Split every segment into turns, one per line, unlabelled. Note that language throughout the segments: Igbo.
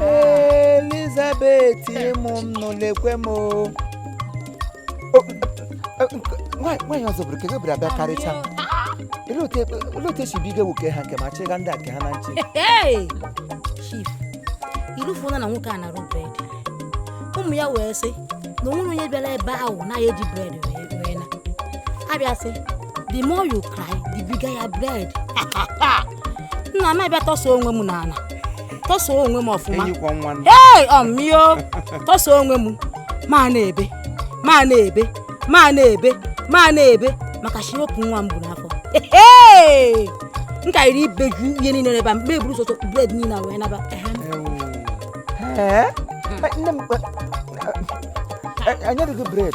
elizabeth ịmụ m nụ lekwe m o O, e, nke- nwaanyị nwaanyị ọzọ bụrụ ka ego bụrụ abịa karịcha olee otu e- olee otu esi biga nwoke ha nke ma chịga ndị a nke ha na nche
Hey! chief irufuola na nwoke a na-arụ bread ụmụ ya wee sị na onwere onye bịara ebe ahụ na ya eji bread wee wee na abịa sị the more you cry the bigger your bread nna m abịa tọsa onwe m n'ala tọsa onwe m ọfụma
ee
ọmịo tọsa onwe m m ana-ebe m ana-ebe m ana-ebe m ana-ebe maka shi opu nwa m bu n'afọ m ka iri ibeju ihe niile n'ebe a m eburuzuo bread niile a wee
naba enye dị gị bread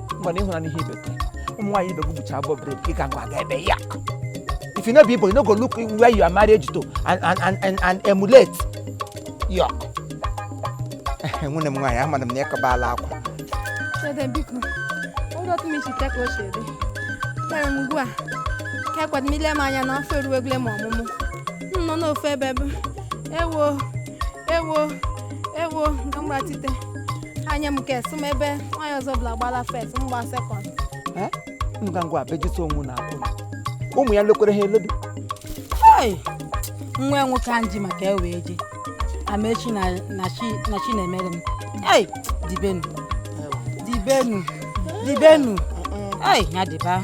ngwa na ị hụra n'ihe i bete ụmụ nwaanyị ibe gị bucha abụọ bread ị ga ngwa ga ebe ya if you no be igbo you no go look where you are married to and and and and, and emulate yok nwunye m nwaanyị amara m na ịkọbala akwa
Dede biko, ụlọ otu m isi ka o si dị. Tere m ugbu a, ka ekwet m ile m anya na afọ eruwele m ọmụmụ. M nọ n'ofe ebe bụ, ewo, ewo, ewo nke mgbatite anya m nke sị m ebe nwaanyị ọzọ bụla gbala first m gba second Eh? Ngwa
ngwa bejisi onwe na akwa ụmụ ya lekwere ha eledu Hey!
nwa ya nwoke anji maka ewe eji ama shị na na chi na chi na-emere m ei dibenu dibenu dibenu ei ya dịba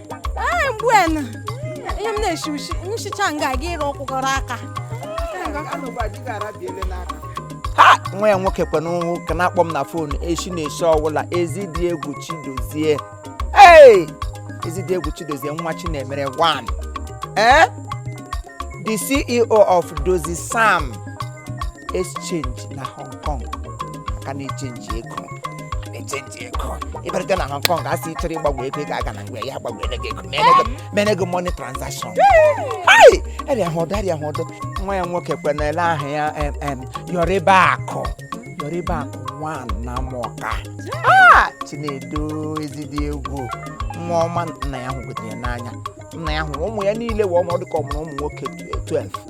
ee mgbu enu ihe m na-eshi ushi nchicha nga aga ịrụ ọkwụgọrọ
aka ha nwa ya nwoke kwe n'ụhụ ka na-akpọ m na phone echi na-esi ọwụla ezidiegwu chidozie ee ezidiegwu chidozie nwachinemere 1 ee the ceo of dozie sam exchange na hong kong ka na-echenji ego ego ị bịara bịa na hong kong asị ị chọrọ ịgbanwe ego ị ga-aga na nke ya gbanwere gị ego mere gị- mere gị money transaction Hai! arịa ha ọdọ arịa ha ọdọ nwa ya nwoke kwenere aha ya em, em, yọrịba akụ yọrịba akụ nwa na mọka Ah! chinedu ezidiegwu nwa ọma nna ya hụgotere ya n'anya nna ya hụrụ ụmụ ya niile wee ọmụ ọ dịka ọ mụrụ ụmụ nwoke 12